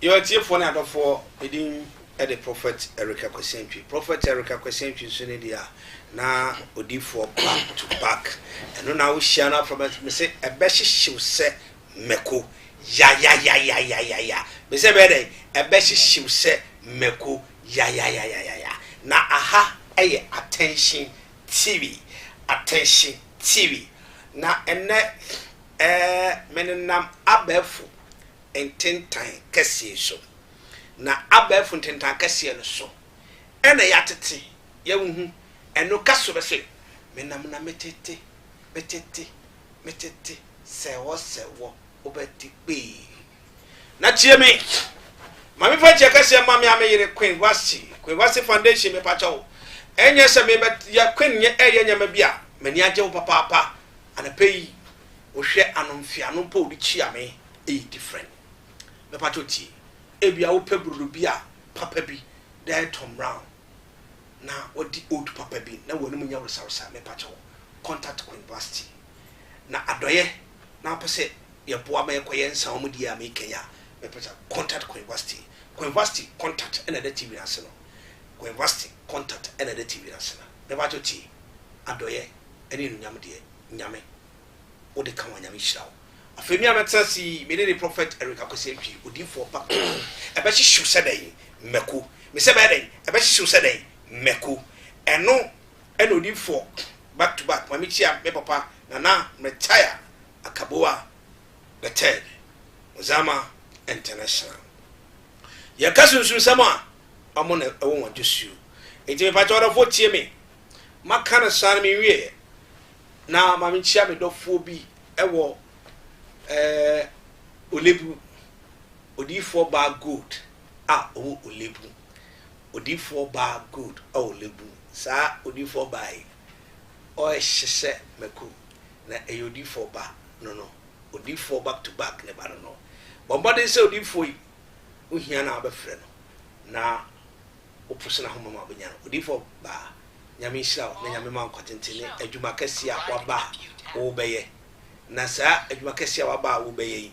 yɛn atiefoɔ ne adɔfoɔ medin de prɔfɛt erika kwasiantwi prɔfɛt erika kwasiantwi nso ne deɛ a na odiifoɔ back to back ɛno na wohyia no afrɛ me sɛ ɛbɛhyehyew sɛ mako yayayayayaya me sɛ bɛyɛ dɛn ɛbɛhyehyew sɛ mako Yayayayayaya na aha yɛ attention TV attention TV na ɛnnɛ eh me nenam abɛɛfo ntentan kɛseɛ so na abɛɛfo ntentan kɛseɛ no so ɛna yɛatete yɛnhu ɛno ka so bɛse me nam na me tete me tete me tete sɛwɔ sɛwɔ wobɛte kpee. Na tie me, ma me fa nkyɛ kɛseɛ ma me a me yere Queen Wasi, Queen Wasi Foundation me pakyɛ wo. Ɛnyɛ sɛ me bɛyɛ Queen nyɛ ɛyɛ nyɛma bi a, m'ani agye wo papaapa. Anapɛ yi, wohwɛ ano mfeano mpo wode kyia me, ɛyɛ different. Me pakyɛ wo tie, ebia wopɛ brodo bi a papa bi de ayɛ Tom Brown, na wadi oat papa bi na w'anim nyɛ woresawresa, me pakyɛ wo, contact Queen Wasti. na adɔeɛ na wopɛ sɛ yɛboa ma yɛkɔyɛ nsawamudie a mekɛn a, mɛpɛ sɛ contact Coinvasty. Coinvasty contact na ɛda TV no ase no. Coinvasty contact na ɛda TV no ase no. Mɛpatwɔ tie. Adɔeɛ ne anuonyam deɛ, Nyame, wode ka ho a Nyame nhyira wo. Afei me a mɛtena ase yi, me ne ne Prophet Eric Akwasi Antwi, odiyifoɔ pa, ɛbɛhyehyew sɛ dɛn? Mako. Mesɛ ɛbɛyɛ dɛn? Ɛbɛhyehyew sɛ dɛn? Mako. Ɛno Ɛna ɔdi fɔ back to back ma me kyia me papa Nana Mɛtaya Akaboa the third Ozama International. Yɛka sunsunsɛm a, ɔmo na ɛwɔ wɔn dwosuo. Nti mepakyɛw ɔdɔfoɔ tie me maka no saa no me nwieɛ na ma me kyia me dɔfoɔ bi ɛwɔ ɛɛ Olebu, odiyifoɔ baa Gold a ɔwɔ Olebu. Odiyifoɔ baa good oh lebu saa odiyifoɔ baa yi ɔɛhyehyɛ maku na ɛyɛ odiyifoɔ ba no no odiyifoɔ back to back ne ba no no bɔ mmɔden sɛ odiyifoɔ yi wo hia no a wobɛfrɛ no na wo poso no ahoma ma wobɛnya no odiyifoɔ baa nyame nhyira wo na nyame ma nkɔtenten ne adwuma kɛseɛ a waba a wobɛyɛ na saa adwuma kɛseɛ a waba a wobɛyɛ yi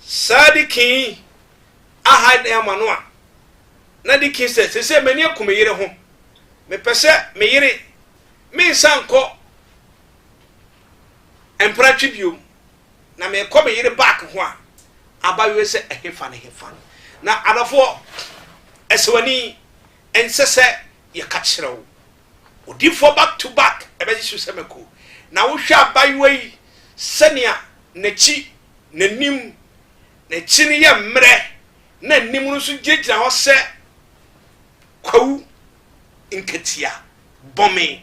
Saa deakin yi aha dan ama no a, na deakin sɛ, Seesei m'ani aku me yere ho. Mepɛ sɛ me yere me nsa nkɔ mpratwe bio. Na mekɔ me yere back ho a, abayewa sɛ ɛhefa ne hefa. Na adɔfoɔ, asewani, ɛnsɛ sɛ yɛka kyerɛ wo. Odiyifoɔ back to back ɛbɛgye so sɛ mako. Na wohwɛ abayewa yi sɛnea n'akyi n'anim, n'akyi no yɛ mmerɛ, na anim no nso gyinagyina hɔ sɛ kwawu nkatia bɔme.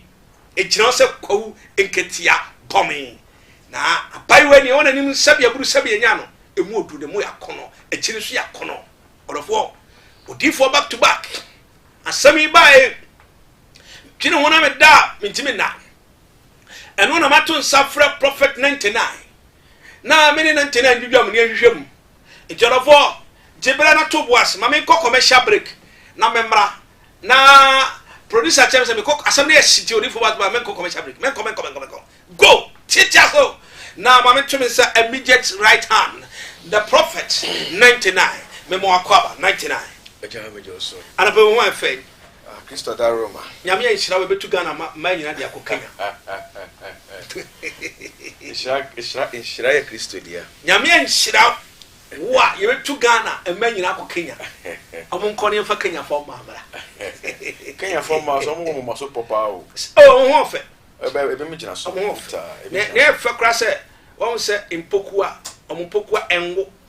Egyina hɔ sɛ kwawu nkatia bɔme. Na abaayewa ni ɛwɔ n'anim sɛbi aburu sɛbi enya no, emu odu ne mu yɛ akɔnɔ, akyi no so yɛ akɔnɔ. Ɔdɔfoɔ, odiifoɔ back to back. Asɛm yi baae, twene ho na meda a mentumi nna. Ɛno na mato nsa frɛ Prophet 99. na me ne no ntena ndwidwam ne nhwehwɛ mu. Enti ɔdɔfoɔ, gye berɛ na to bo ase ma menkɔ commercial break na memmra. Na producer kyerɛ me sɛ mekɔ, asɛm no yɛ hye nti odiyifoɔ ba menkɔ commercial break, menkɔ, menkɔ, menkɔ, menkɔ, go, tiatia ase o. Na ma mento me nsa immediate right hand, the prophet, 99, mema wo akwaaba, 99. Agya, megye wo so. Anɔpa yi wo ho ayɛ fɛ. Christo da Roma. Nyame nhyira wo ɛbɛtu Ghana ma mmaa nyinaa de akɔ Kenya. Nhyira nhyira nhyira yɛ Christo deɛ. Nyame nhyira wo a yɛbɛtu Ghana mmaa nyinaa akɔ Kenya. Ɔmo nkɔ ne yɛmfa Kenya fɔ mmaa mmra. Kenya fɔ mmaa so ɔmo wɔ moma so pɔ paa o. Oh, ɔmo ho ɔfɛ. Ɛbɛ ebi mo gyina so. Ɔmo ho ɔfɛ. Na ɛfɛ kora sɛ wɔn sɛ mpokuwa ɔmo mpokuwa ɛnwo.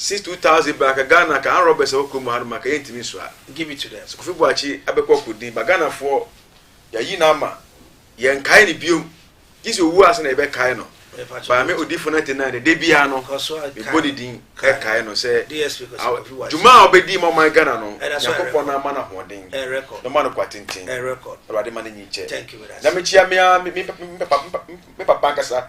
Since two thousand baa ka Ghana ka armed robbers a ɛwɔ kurom ha no ma ka yɛ ntumi nsoa give it to them sɛ Kofi Boakye abɛkɔ akɔ din but Ghana foɔ yɛ ayi no ama yɛ nkae no biom gye sɛ owuo ase na yɛ bɛ kae no but me Odifo 99 no da biara no me bɔ ne din ɛkae no sɛ dwuma a ɔbɛ di ma ɔman Ghana no Nyankopɔn no ama no ahoɔden na ɔma no kwa tenten na Awurade ma no nyi nkyɛ na me kyia me papa nkasa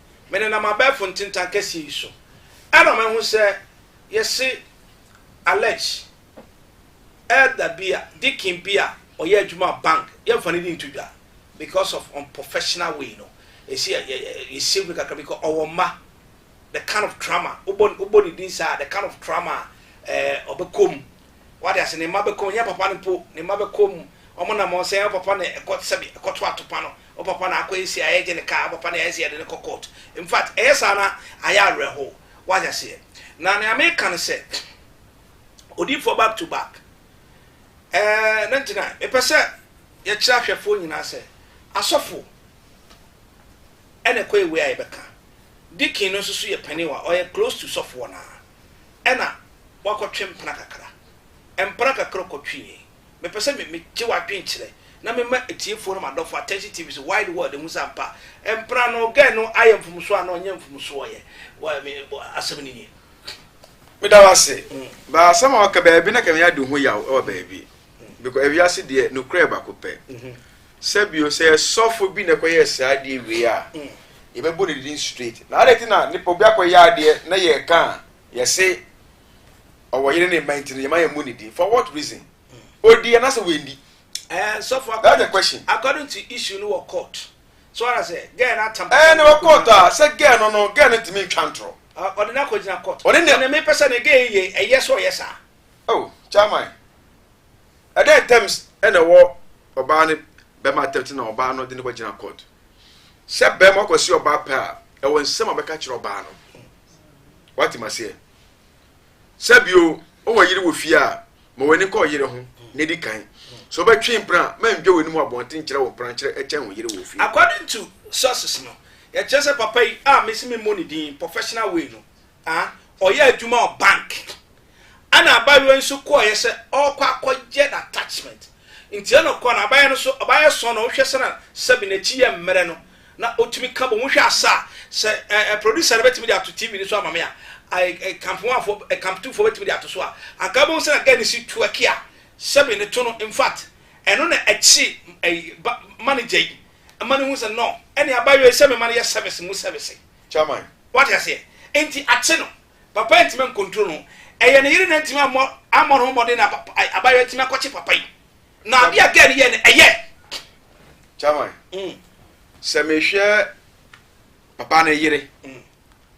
Menenam abɛɛfo ntentan kɛseɛ yi so ɛna mahu sɛ yɛse Alex, Elder bi a, Deacon bi a ɔyɛ adwuma wɔ bank, yɛmfa ne din nto dwa because of unprofessional way no, ɛsi yɛ yɛ yɛ save no kakra because ɔwɔ mma, the kind of trauma, wobɔ wobɔ ne din saa, the kind of trauma a ɛɛ ɔbɛkɔ mu, wade ase, ne mma bɛkɔ mu, ɛnyɛ papa no mpo, ne mma bɛkɔ mu, wɔn nam wɔn sɛ ɛyɛ papa na ɛkɔ sɛbi ɛkɔto atopa no, Wo papa na akɔ nsia yɛgye ne car papa na yɛayɛ sɛ yɛde no kɔ court in fact ɛyɛ saa na ayɛ awerɛhow wate aseɛ na nea meka ne sɛ odiifoɔ back to back ɛɛ na nti na mepɛ sɛ yɛkyerɛ ahwɛfoɔ nyinaa sɛ asɔfo ɛna ɛkɔ ewe a yɛbɛka dikin no nso so yɛ panin wa ɔyɛ close to sɔfoɔ no a ɛna wakɔtwe mpena kakra mpena kakra ɔkɔtwe yɛn Mepɛ sɛ me megye w'adwenkyerɛ na mema atiefoɔ ne m'adɔfoɔ Attention TV so wide world ɛhu sɛ ampa mpra no girl no ayɛ mfomsoɔ anaa ɔnyɛ mfomsoɔ yɛ wɔ me asɛm no nie. Meda wo ase. Mm. Ba asɛm a waka baabi na kɛmɛ adi ho yaw ɛwɔ baabi. Mm. Because ewiase deɛ nukurɛ bako pɛ. Mm -hmm. Sɛbio sɛ sɔfo bi na ɛkɔyɛ saa adeɛ wei a. Mm. Yɛbɛbɔ ne din straight. Na adɛ ti na nipa obi akɔyɛ adeɛ na yɛka a yɛse ɔwɔ yere ne mma nti no yɛma yɛn mu ne din for what reason odi anasɛ wendi. Eh, so for according, That's the question. according to issue no wɔ court so ara sɛ girl no atam ɛɛ ne wɔ court a sɛ girl no no girl no ntumi ntwa ntorɔ ɔde no akɔgyina court ɔne ne me pɛ sɛ ne girl yɛ ɛyɛ sɛ ɔyɛ saa oh chairman ɛdɛn terms ɛna ɛwɔ ɔbaa ne bɛma atɛmti na ɔbaa no de ne kɔgyina court sɛ bɛma ɔkɔsi ɔbaa pɛ a ɛwɔ nsɛm a bɛka kyerɛ ɔbaa no wate maseɛ sɛ bio wowɔ yere wɔ fie a ma w'ani kɔ yere ho na di kan sɛ wobɛtwe mpena a mandwa w'anim abɔnten kyerɛ wo mpena nkyerɛ kyɛn wo yere wɔ fie according to sources no yɛkyerɛ sɛ papa yi a mesi me mmɔ ne din professional way no a ɔyɛ adwuma wɔ bank ɛna abayewa yi nso kɔɔyɛ sɛ ɔrekɔ akɔyɛ na attachment nti ɛna ɔkɔ na abayɛ no so ɔbayɛ sɔn na ɔhwɛ sɛ na sɛbi n'akyi yɛ mmerɛ no Na otumi ka bom hwɛ asa a, sɛ ɛɛ producer no bɛtumi de ato TV no so ama me a, ɛɛ kampowanfoɔ, ɛɛ kamputufoɔ bɛtumi de ato so a, anka wobɛhu sɛ na girl no si twerk a sɛbi no to no, in fact ɛno na ɛkyere ɛyi ba manager yi ma no hu sɛ no, ɛne abaayewa yi sɛ me ma no yɛ service mu service. Chairman. Wate aseɛ? Nti akye no, papa yi antumi ancontrol no, ɛyɛ ne yere na antumi ammɔ ammɔ ne ho mmɔden na abaayewa yi atumi akɔkye papa yi. na ade a girl no yɛ no ɛyɛ. chairman mm. sɛ mehwɛ papa no yere mm.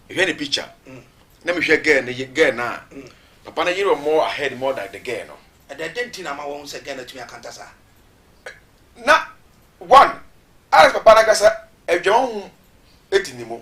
mehwɛ ne picture mm. na mehwɛ girl no girl no a mm. papa no yere wɔ more ahead more than the girl no. ɛdɛ dɛ nti na ama wɔn sɛ girl no atumi akanta saa. na one alex papa no ankasa adwuma ho di ne mu.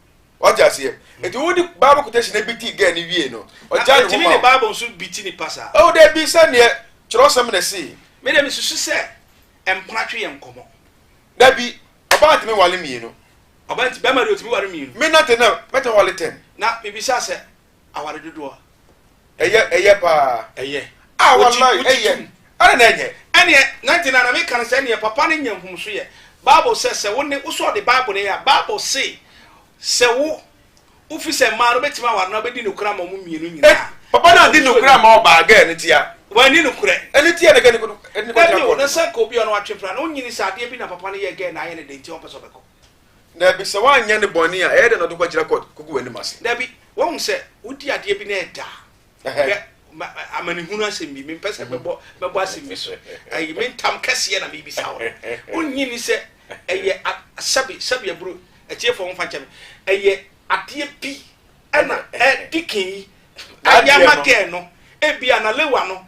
ɔte aseɛ nti wo de bible quotation na bi ti gɛɛ ne wie no ɔgya ne ho ma wo ne bible nso bi ti nipa saa ɛwɔ dɛ bi sɛ neɛ kyerɛwsɛm na ɛsi me dɛ mesusu sɛ mpena twe yɛ nkɔmɔ da bi ɔbaa ntumi wale mmienu ɔbaa nti bɛma deɛ ɔtumi wale mmienu me nante na mɛtumi wale ten na mebisa sɛ aware dodoɔ a. Ɛyɛ ɛyɛ paa. Ɛyɛ. Ah walai ɛyɛ. Ɛna na ɛnyɛ. Ɛneɛ na nti na na meka no sɛ ɛneɛ papa no nya nhumuso yɛ bible sɛ sɛ wo ne wo sɛ ɔde bible no yɛ a bible se sɛ wo wo fi sɛ mmaa no bɛtumi aware na wobɛdi nokorɛ ama ɔmo mmienu nyinaa. Papa no adi nokorɛ ama ɔbaa gɛɛ no tia. Wanni nokorɛ. Ɛne tia ne gɛɛ ne kɔdu. Dabi o na sɛ nka obi a ɔno atwe pra na onyini sɛ adeɛ bi na papa no yɛ gɛɛ na ayɛ ne den nti ɔmpɛ sɛ ɔbɛkɔ. Dabi, sɛ wanyɛ no bɔne a, ɛyɛ dɛn na ɔde kɔgyina kɔt kogu w'anim ase? Dabi, wahu sɛ wodi adeɛ bi na ɛda a, Ɛhɛn. hwɛ, ma- ma- amanehunu asɛm bi, mempɛ sɛ mɛbɔ mɛbɔ asɛm bi so, ɛyi, me ntam kɛseɛ na merebisa wo no. Wonnye nni sɛ ɛyɛ a- sɛbe, sɛbe aburo, atiefoɔ momfa nkyɛ me, ɛyɛ adeɛ bi ɛna ɛ, Dikin yi, N'adeɛ no. Ayama girl no, ebia na Lewa no,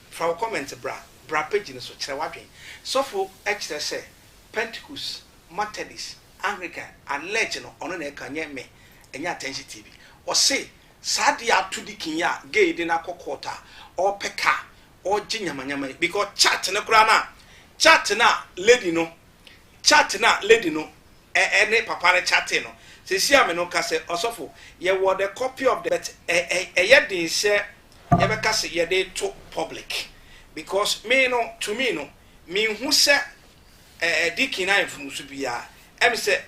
Fa wo comment bra bra page no so kyerɛ w'adwen sɔfo kyerɛ sɛ pentecost matedis anglican alleged no ɔno na ɛka nyɛ me ɛnyɛ attention tv ɔse saa de ato dikin yi a gay de no akɔ court a ɔpɛ car ɔgye nyamanyama yi because chat no koraa no a chat no a lady no chat no a lady no ɛne papa no chatee no sɛsi a me no ka sɛ ɔsɔfo yɛwɔ the copy of the but ɛyɛ den sɛ yɛbɛka se yɛde to public because me no to me no menhu sɛ ɛɛ deacon ayɛ mfomso biara ɛm sɛ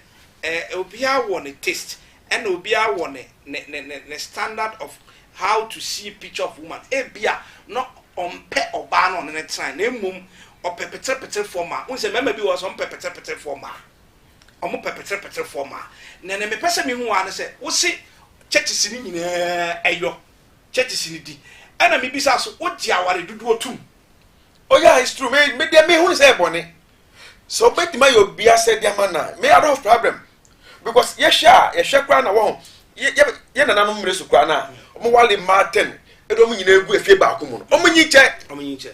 ɛɛ obiara wɔ ne taste ɛna obiara wɔ ne ne ne ne ne standard of how to see picture of woman ebia no ɔmpɛ ɔbaa no ɔne ne tena na mmom ɔpɛ peterepeterefoɔ ma n sɛ mmarima bi wɔ sɛ ɔmpɛ peterepeterefoɔ ma ɔmo pɛ peterepeterefoɔ ma na na mepɛ sɛ mehu wa no sɛ wose churches no nyinaa ɛyɔ churches no di ɛna me bisa so wogye aware dodoɔ tum oh yeah it's true me me deɛ me hu sɛ ɛbɔne sɛ obetuma yɛ obi asɛ deɛ ama na me I don't have problem because yɛhwɛ a yɛhwɛ koraa na wɔn yɛ yɛ yɛ nananom mmiri so koraa na wɔn wale mmaa ten ɛna wɔn nyinaa egu efie baako mu no wɔn nyi kyɛ wɔn nyi kyɛ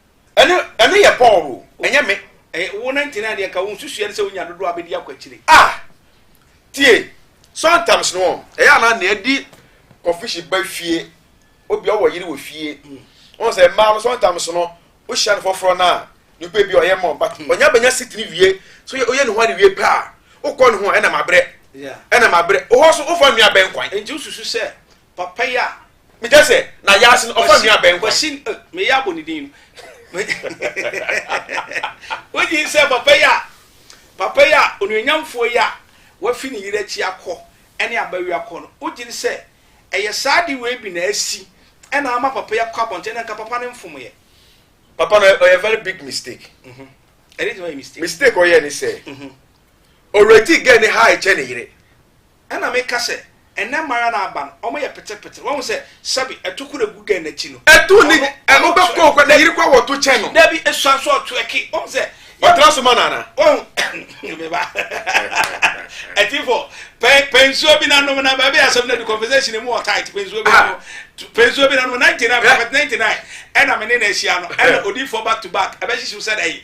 Ɛno ɛno yɛ Paul o, ɛnyɛ me. Ɛyɛ wo na nti na ɛdeɛ ka wo nsusuɛ no sɛ wonya dodoɔ a bɛdi akɔ akyire. Ah! Tie, sometimes no ɛyɛ anaa na ɛdi kɔfishi ba fie, obia ɔwɔ yere wɔ fie. Wɔn sɛ mmaa no sometimes no wohyia no foforɔ no a, nipa ebi ɔyɛ mɔ but ɔnya bɛnya sit ne wie, so yɛ oyɛ ne ho ade wie pɛ a, wokɔ ne ho a ɛnam abrɛ. Ɛnam abrɛ. Ohɔ so wofa nnua bɛn kwan. Nti wosusu sɛ Papa yi a. Me kyɛ sɛ na yaase no ɔfa nua bɛn kwan. Kwasi eh, me yɛ abɔ ne din no. Wogye sɛ papa yi a papa yi a onuonyamfoɔ yi a wafi ne yere akyi akɔ ɛne abawi akɔ no wogye sɛ ɛyɛ saa de wei bi na asi ɛna ama papa yi akɔ abɔnten na nka papa no mfom yɛ. Papa no ɔyɛ very big mistake. Mhm. Ɛde ti ma yɛ mistake. Mistake ɔyɛ ne sɛ. Mhm. Already gɛ ne ha ɛkyɛ ne yere. Ɛna meka sɛ, Ɛnnɛ mma ara na aba no, wɔyɛ petepetere. Woahu sɛ, sɛbe, atokuru a egu dɛn n'akyi no? Etu ne ɔno, ɔno ɛno bɛkɔ twerɛke. kwa ne yere kwa wɔto kyɛn no. Dabi, esua nso ɔtwerɛke. Woahu sɛ, yɛ, Ɔtra so ma no anaa? woahu, me ba, atiefo, pɛ, pɛ nsuo bi na nom na baabi a asɛm no adu conversation no mu wɔ tight, pɛ nsuo bi na Ah. nom, tu- pɛ nsuo bi na nom, 99, Hwɛ. Prophet 99, ɛna me ne no ahyia no, ɛna odiifoɔ back to back, ɛbɛhyehyew sɛ dɛ yi,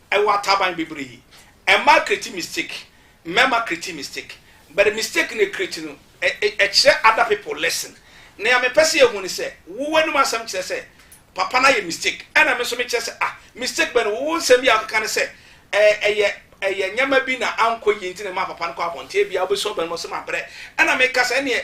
ɛwɔ ataban bebree ɛmaa create mistake mmarima create mistake but mistake na create no ɛkyerɛ other people lesson nea mepɛ sɛ yɛhu ne sɛ wo w'anom asɛm kyerɛ sɛ papa no ayɛ mistake ɛna me nso mekyerɛ sɛ ah mistake bɛn wo nsɛm bi a wokeka ne sɛ ɛyɛ ɛyɛ nneɛma bi na ankɔ yie nti na ɛma papa no kɔ abɔnten bia wobɛsua bɛn mo sɛ mabrɛ ɛna meka sɛ ɛneɛ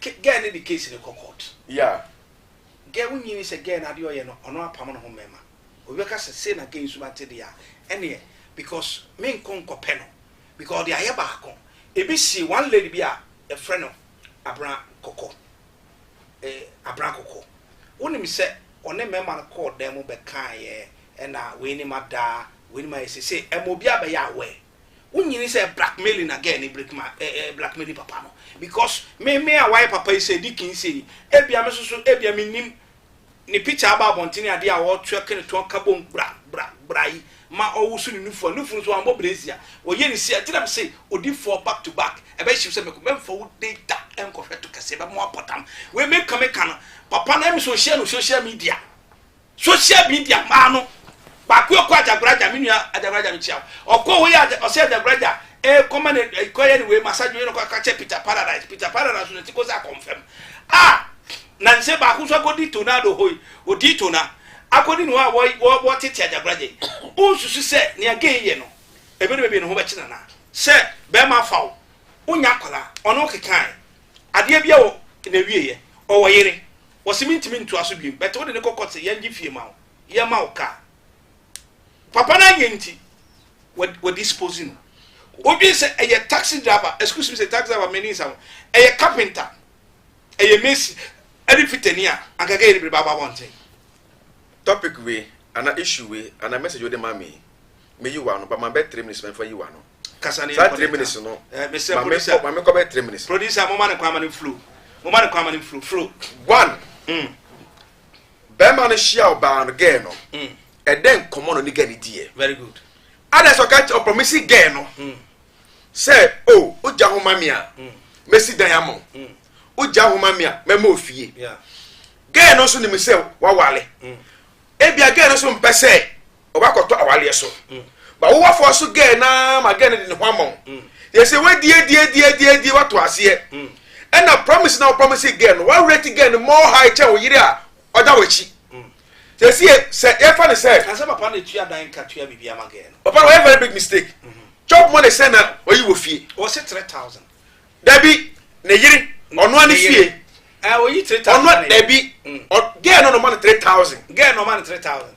Ke girl no de case no kɔ court. Yeah. Girl wo nyi ni sɛ girl no adeɛ ɔyɛ no ɔno apam ne ho mɛma obi bɛka sɛ sei na girl yi suban te deɛ a ɛneɛ because me nkɔ nkɔ pɛ no because ɔde ayɛ baako ebi sie one lady bi a yɛfrɛ no abena kɔkɔ eh abena kɔkɔ wo nim sɛ ɔne mɛma no kɔɔ dan mu bɛkaeɛ ɛna wei ni ma daa wei ni ma yɛ sei sei ɛma obi abɛyɛ aware. Wo nyini sɛ blackmailing na girl ni break ma eh, eh, blackmailing papa no because me me a wayɛ papa yi sɛ di kin sɛ yi ebia me soso ebia me nim ne picture aba abɔntene adeɛ a ɔtwe kene to aka bom bra bra bra yi ma ɔwoso ne nufu a nufu no so ambɔ brezia ɔyɛ ne si a gyina me sɛ odi fɔ back to back ɛbɛyɛ hyɛ sɛ mɛkɔ mɛmfa wo data nkɔhwɛ to kɛse ɛbɛmo apɔtam wei meka meka no papa no ɛmi sɛ ɔhyia no social media Social media maa no baako yɛ kɔ Agyagoragya me nua Agyagoragya me kyia ɔkɔ hɔ yɛ ɔsɛ Agyagoragya ɛɛ kɔma ne ɛkɔ yɛ ne wei massage wei na ɔkɔ akɔkyɛ Peter Paradise Peter Paradise na ti kɔ sɛ akɔnfɛm a na nsɛ baako nso akɔdi tornado hɔ yi ɔdi tona akɔdi ne hɔ a wɔ wɔ wɔtete Agyagoragya yi wonsusu sɛ nea gay yɛ no ebi ne bɛbi ne ho bɛkye nana sɛ bɛrima afa wo wonya akwadaa ɔne wo kekae adeɛ bi wɔ na ɛwieɛ ɔwɔ yere Wɔse mentumi ntoa so biom but wode no kɔ court sɛ yɛngye fie ma wo, yɛma wo car. Papa no anyɛ nti wɔ dispose no. Wodwen sɛ ɛyɛ taxi driver, excuse me sɛ taxi driver m'ani nsa ho, ɛyɛ carpenter, ɛyɛ mason ɛne fitani a anka ɛka yɛ de biribi aba abɔnten. Topic wei anaa issue wei anaa message wode ma me yi, meyi w'ano but mabɛ three minutes mɛmfa yi w'ano. kasa ne yɛ kɔ ne ta no mesɛ producer ma mekɔ bɛ three minutes producer mo ma ne kwan ma ne flow mo ma ne kwan ma ne flow flow one mm. bɛrima no hyia ɔbaa no gɛɛ no mm. ɛdɛ nkɔmɔ no ne gɛɛ ne diɛ very good ada sɛ ɔka kyɛ ɔpɔmisi gɛɛ no mm. sɛ o oh, ogya ho ma me a mm. mɛsi dan ama mm. ogya ho ma me a mɛma ofie gɛɛ no nso nim sɛ wawale mm. ebia gɛɛ no nso mpɛ sɛ ɔbɛkɔtɔ awaleɛ so ba wowafoɔ so gɛɛ naa ma gɛɛ no de ne ho ama wo yɛ sɛ wadiadiadiadiadie wato aseɛ ɛna promise na wopromise gɛɛ no wareti gɛɛ no more high kyɛn wo yere a ɔda w'akyi sɛsi yɛ sɛ yɛfa ne sɛ kasɛ papa na tua dan ka tua biribi ama gɛɛ no papa na wɔyɛ very big mistake chop money sɛ na ɔyi wɔ fie wɔse 3000 dabi ne yere ɔnoa ne fie ɔnoa dabi gɛɛ no no ma no 3000 gɛɛ no ma no 3000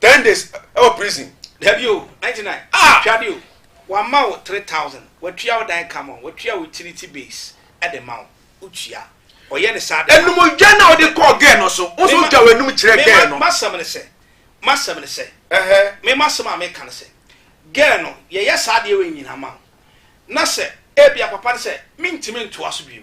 ten days ɛwɔ prison. Dabi o, ninety nine, Ah! twa de o, wama wo three thousand, watua wo dan ka ma, watua wo utility bills de ma wo, wotua, ɔyɛ ne saa de ma wo. Ɛnum dwa na ɔde kɔɔ girl no so, wo nso Me ma, wotwa w'anum kyerɛ me girl ma, no. m'asɛm ne sɛ, m'asɛm ne sɛ, Ɛhɛ. me m'asɛm a meka ne sɛ, girl no, yɛyɛ saa adeɛ wei nyinaa ma wo, na sɛ ebia papa no sɛ, mentumi ntoa so bio,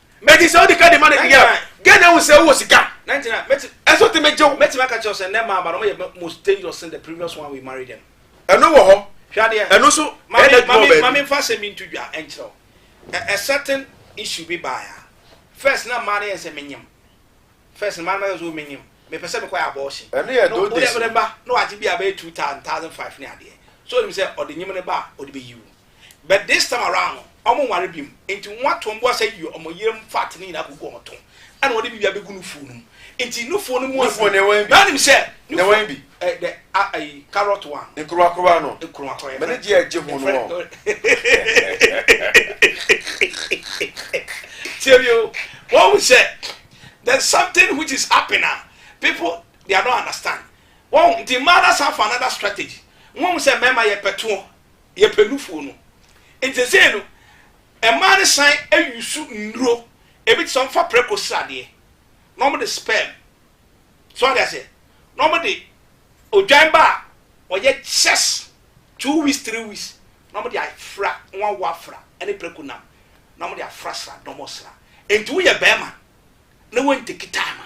Meti sɛ wode ka de ma no deɛ a, gɛn na ahu sɛ wowɔ sika? Ɛso te megye wo. Mɛtumi aka kyerɛ sɛ nnɛ mmaa ba no wɔyɛ most dangerous than the previous one we marry them. Ɛno wɔ hɔ. Hwɛ adeɛ. Ɛno nso ɛyɛ adwuma wɔ baabi. Mame nfa asɛm bi nto dwa nkyerɛ wo. A certain issue bi baeɛ a, first na mmaa no yɛ sɛ menyem. First no mmaa no bɛka sɛ menyem, mepɛ sɛ mekɔyɛ abortion. Ɛno yɛ those days. Wode ba na wagye bi a bɛyɛ two thousand, thousand five ne adeɛ. So onim sɛ ɔde nyem no ba a ɔde bɛyi wo. but this time around no ɔmo nware biom nti wɔn ato mboa sɛ yio ɔmo yerem fat no nyinaa kogu ɔmo to ɛna wɔde biribi abegu nufuo no mu nti nufuo no mu afu na ɔnim sɛ nufuo bi ɛ dɛ ayi carrot one nkuruwakuruwa no nkuruwakuruwa yɛ mɛne gye ɛgye ho no wɔ tiɛ bi o wɔn mu sɛ there's something which is happening a people they are not understand wɔn nti mmaa na san for another strategy wɔn mu sɛ mmarima yɛ pɛtoɔ yɛpɛ nufoɔ no nti sei no mmaa no san ayusu nnuro ebi te sɛ wɔmfa prɛko sradeɛ na wɔde sperm so ade aseɛ na wɔde odwan ba a ɔyɛ kyɛs two weeks three weeks na wɔde afra wɔn awo afra ɛne prɛko nam na wɔde afra sra dɔmɔ sra nti woyɛ bɛrima na wɔntekita ama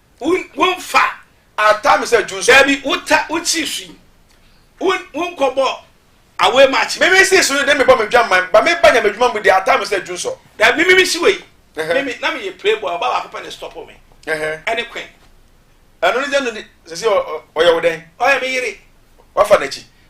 Wo, wo nfa. Ata me sɛ June sɔfo. Dabi, wo ta, wo ti swi. Wo, wo nkɔ bɔ away match. Mimi si so de me bɔ me dwa man. Ba me ba nyame dwuma mu de ata me sɛ June sɔ. Dabi, mimi mi si wei. Mimi, na me yɛ playboy, ɔba baako pɛ na stop me. Ɛne Queen. Ɛno ne gya no de, sɛsi ɔyɛ wo dɛn? Ɔyɛ me yere. Wafa n'akyi.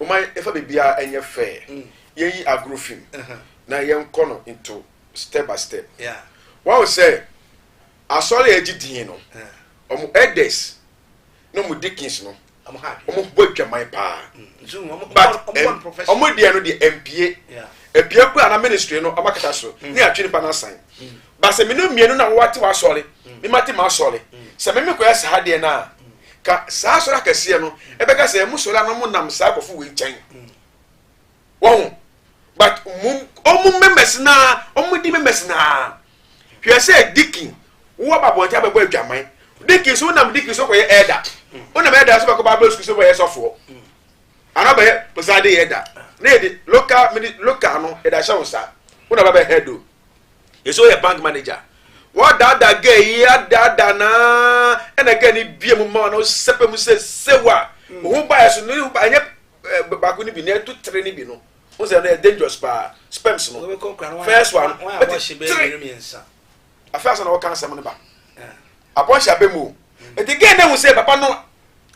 Momma yɛmfa biribiara nyɛ fɛɛ. Yɛnyi agorɔ fi mu na yɛnkɔ no nto step by step. Woahu sɛ asɔre a agye din no, wɔn elders ne wɔn deacons no, wɔbɔ adwaman paa. Mm, But wɔn deɛ no deɛ ɛmpie. Ɛpie koraa na ministry no wɔakata so ne atwene pa no asan. ba sɛ mene mmienu na wowate w'asɔre mm. memate m'asɔre mm. sɛ meme kɔyɛ saa deɛ no a mm. ka saa asɔre akɛseɛ no ɛbɛka sɛ ɛmu sɔre ano mo nam saa akɔfo wei nkyɛn wɔho but ɔmo members naa ɔmo di members naa hwɛ sɛ dikin wowɔ babɔnte abɛbɔ adwaman dikin so wonam dikin so kɔyɛ ɛda wonam ɛda so bɛkɔ bible school so bɛyɛ sɔfoɔ anaa bɛyɛ pɛsade yɛ da na yɛde local local no ɛda hyɛ wo nsa wonam bɛbɛ head o ɛsɛ ɔyɛ bank manager a wɔadaadaa gɛ yi adaadaa naa ɛna gɛ ne bie mu ma na ɔsɛpɛ mu sɛ sew a mm. wo ho baeɛ so no ɛnyɛ eh, baako no bi na ɛto tere no bi no wo sɛ no yɛ dangerous paa sperms no first one tere afei asa na wɔka asɛm no ba eh. abɔnhyɛ abɛ mu mm. nti gɛ ne hu sɛ papa no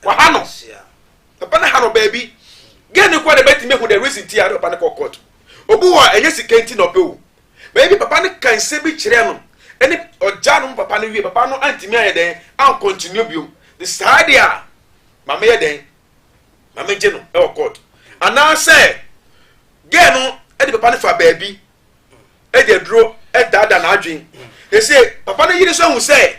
waha no papa no ha no baabi gɛ ne kɔ na bɛtumi ahu the reason ti a ne papa no kɔ court Obi wɔ a ɛnyɛ sika nti na ɔpɛ o. Bɛyɛ bi papa no ka nsɛm bi kyerɛɛ no ɛne ɔgyaa no mu papa no wie papa no antumi ayɛ dɛn ankɔntinue biom de saa deɛ a ma meyɛ dɛn ma megye no ɛwɔ court anaasɛ gɛɛ no ɛde papa no fa baabi ɛde aduro ɛdaada n'adwen ɛsɛ papa no yere nso ahu sɛ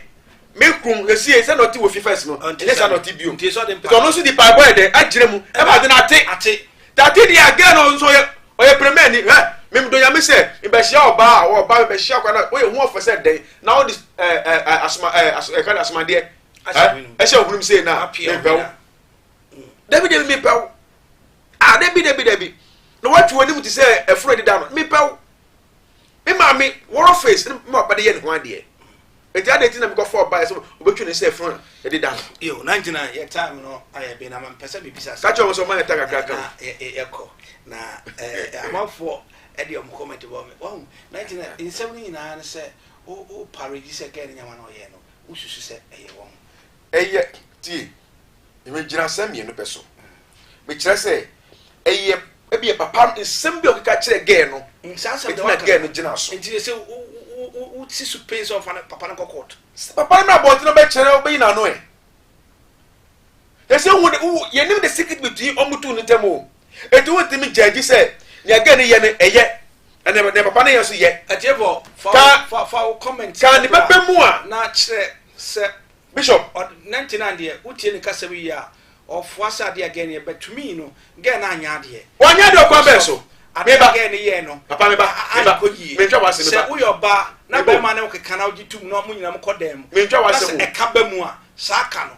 me kun esie sɛ na ɔte wɔ fi fɛs no ɛnyɛ sɛ na ɔte bio nti ɔno nso de paebɔ yɛ dɛ akyerɛ mu ɛma ade no ate ate tate deɛ agɛ no nso ɔyɛ ɔyɛ pɛrɛmɛ ni hɛ memdɔ nyame sɛ mbɛhyia ɔbaa a ɔba mbɛhyia kwa na ɔyɛ hu ɔfɛ sɛ dɛn na ɔde ɛɛ ɛɛ asoma ɛɛ aso ɛka de asomadeɛ ɛ ɛhyɛ ɔhunum sei na mepɛw dabi dabi mepɛw a dabi dabi dabi na wɔatwi wɔn anim te sɛ ɛforo ɛdeda no mepɛw. Me maame wɔrɔ face ne ma ɔba de yɛ ne ho adeɛ. Eti adeɛ ti na mekɔ fɔ ɔba yɛ sɛ ɔbɛtwi ne sɛ fun a yɛde da no. Yo, na nti na yɛ time no ayɛ be na ma mpɛ sɛ mebisa asɛm. Kakyɛ wɔn sɛ ɔma yɛ ta kakra ka. Na yɛkɔ na amanfoɔ ɛde ɔmo comment bɔ me. Wahu, na nti na nsɛm no nyinaa ne sɛ wo wo parage sɛ girl no nyɛ ma na ɔyɛ no, wo susu sɛ ɛyɛ wɔn. Ɛyɛ, tie, nnyinasɛm mmienu pɛ so. Mekyerɛ sɛ, ɛyɛ ebi papa no nsɛm bi a ɔkeka kyerɛ gɛɛ no. Mm, saa nsɛm de waka. Ɛtina gɛɛ no gyina so. Nti sɛ wosi so pɛn sɛ ɔfa no papa no kɔ court. Sɛ papa no na abɔnten na ɔbɛkyerɛ ɔbɛyi n'ano ɛ. Yɛsɛ wo de wo yɛnim the secret between ɔmo two no ntam o. Enti wontumi gyaa di sɛ nea Gen yɛ no ɛyɛ ɛna nea papa no yɛ nso yɛ. Atiefo, fa fa fa wo comment. Ka ne bɛbɛ mu a. Na kyerɛ sɛ. Bishop. Na nti na deɛ wotie ne kasɛm yi a ɔfoa sɛ adeɛ a Gen yɛ bɛtumi no Gen no anyɛ adeɛ. Wanyɛ adeɛ ɔkwan bɛn so. Adeɛ a Gen no yɛɛ no. Papa meba. Meba. Kɔ yie. Mentwa w'asɛm meba. Sɛ woyɛ ɔbaa na bɛrima ne wo keka na wogye tum na mo nyinaa mo kɔ dan mu. Mentwa w'asɛm o. Na sɛ ɛka ba mu a saa ka no.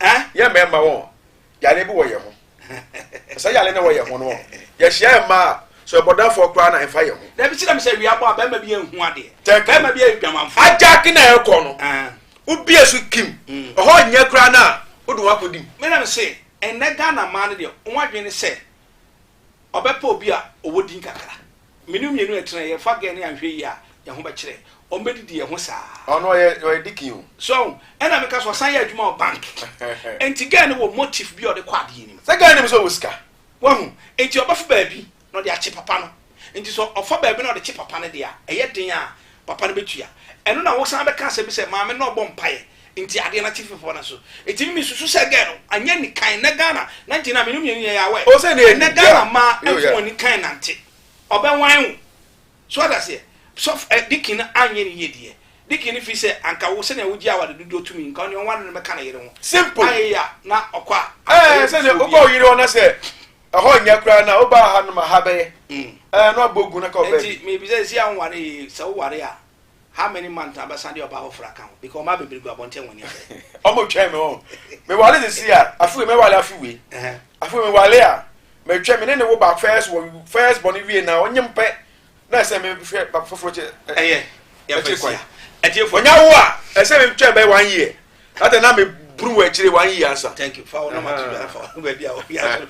Eh? Yɛ mmarima wɔn yare bi wɔ yɛn ho. Sɛ yare na wɔ yɛn ho no wɔn. Yɛhyia yɛn mmaa so ɛbɔdamfoɔ koraa na ɛmfa yɛn ho. Dabi kyerɛ mi sɛ wia bɔ a bɛrima bi ehu adeɛ. Tɛki. Bɛrima bi yɛ dwamanfoɔ. Agyaki na ɛkɔ no. Ah. Wobie so kim. Mm. Ɛhɔ nyɛ koraa na wode wɔn akɔdim. Me na me se ɛnɛ Ghana mmaa no deɛ wɔn adwene ne sɛ. Ɔbɛpɛ obi a ɔwɔ din kakra. Me ne wo mmienu ɛtena a, yɛfa gɛɛ no anhwɛ yie a, yɛn ho bɛkyerɛ. Wɔn bɛdidi yɛn ho saa. Ɔno ɔyɛ ɔyɛ dikin o. So ahu? Ɛna meka sɛ ɔsan yɛ adwuma wɔ bank. Nti gɛɛ no wɔ motif bi a ɔde kɔ adeɛ nim. Sɛ gɛɛ nim sɛ ɔwɔ sika. Wahu? Nti ɔbɛfa baabi na ɔde akye papa no. Nti sɛ ɔfa baabi na ɔde kye papa no deɛ a, ɛyɛ den a papa no bɛtua. Ɛno na wosan bɛka asɛm bi sɛ maame no ɔbɔ mpaeɛ Nti adeɛ no ate fefeɔ na so ɛtumi me susu sɛ girl no anyɛ nikan ɛnɛ Ghana na nti na mene mmienu yɛ yɛ awɛ ɛnɛ Ghana mmaa ɛmfa wɔn nikan nante ɔbɛ wan wo so wata seɛ sɔf ɛ dikin no anyɛ ne yie deɛ dikin no fi sɛ anka wo sɛnea wogye awade dodoɔ tumi nka ɔne ɔware no mɛka ne yere ho simple ayɛ ya na ɔkɔ a ɛɛ sɛ ne ɔkɔ yere hɔ na sɛ ɛhɔ nyɛ koraa na ɔba ha no ma ha bɛyɛ ɛɛ na ɔbɔ gu na ka ɔbɛ nti mebisa si a woware sɛ woware a how many months na bɛsan de ɔbaa foforɔ aka ho because ɔmaa bebree gu abɔnten wɔn ani abɛn. ɔmo twɛn mi wɔn mewale ne si a afei mewale afi wei afei mewale a mɛtwɛn mi ne ne wo ba first wɔ first bɔ ne wie na ɔnye mpɛ na ɛsɛ mi hwɛ ba foforɔ kyɛ ɛyɛ ɛkyɛ kwan ɛtiɛ fɔ ɔnya wo a ɛsɛ mi twɛn bɛyɛ one year Ata na me buru wɔ akyire one year ansa. Thank you. Fa wɔn nama to dwa fa wɔn baabi a wɔyɛ aso.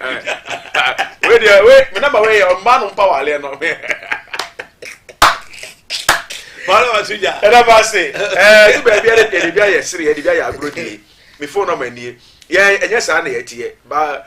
Wei deɛ wei me nama wei yɛ ɔmaa no mpa waleɛ no. Wɔn nama to dwa. Ɛna ba se ɛɛ ne baabi ɛde deɛ ne bi ayɛ sere yɛ ne bi ayɛ agorɔ die me phone nama nie yɛn ɛnyɛ saa na yɛteɛ ba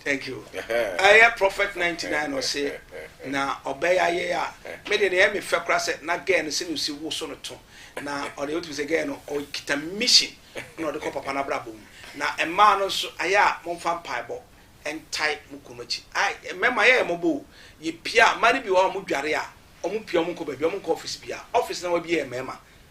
Thank you ɛyɛ prophet ninety nine na ɔse na ɔbɛya yɛ a me de na ɛyɛ me fɛ kora sɛ na gɛɛ no sɛ na osi wo so no to na ɔde wotumi sɛ gɛɛ no ɔkita mission na ɔde kɔ papa no abrabɔ mu na mmaa no nso ayɛ a momfa mpaebɔ ɛntae mo kunu akyi ai mɛma yɛ yɛ mɔbɔ o yɛ pia mmaa no bi wɔ a ɔmo dware a ɔmo pia ɔmo nkɔ baabi ɔmo nkɔ office bia office na wabie yɛ mɛma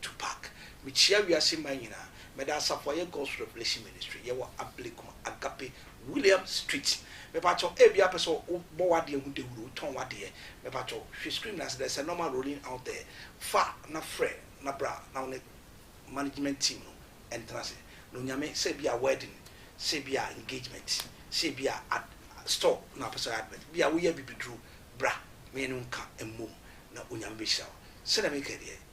Tupac, Mekyia wiase man nyinaa. Meda asafo a ɛyɛ God's Revelation Ministry, yɛwɔ Ablekuma Agape William Street. Mepakyɛ wo, ebia wopɛ sɛ wobɔ w'adeɛ ho dawuro, wotɔn w'adeɛ. Mepakyɛ wo, hwɛ screen no ase, there's a number rolling out there. Fa na frɛ na bra na wo ne management team no ntena ase na Onyame, sɛ ebia wedding, sɛ ebia engagement, sɛ ebia ad, store na wopɛ sɛ woyɛ advert, ebia woyɛ abibiduro, bra me ne wo nka mmom na Onyame bɛhyira wo. Sɛdeɛ meka deɛ,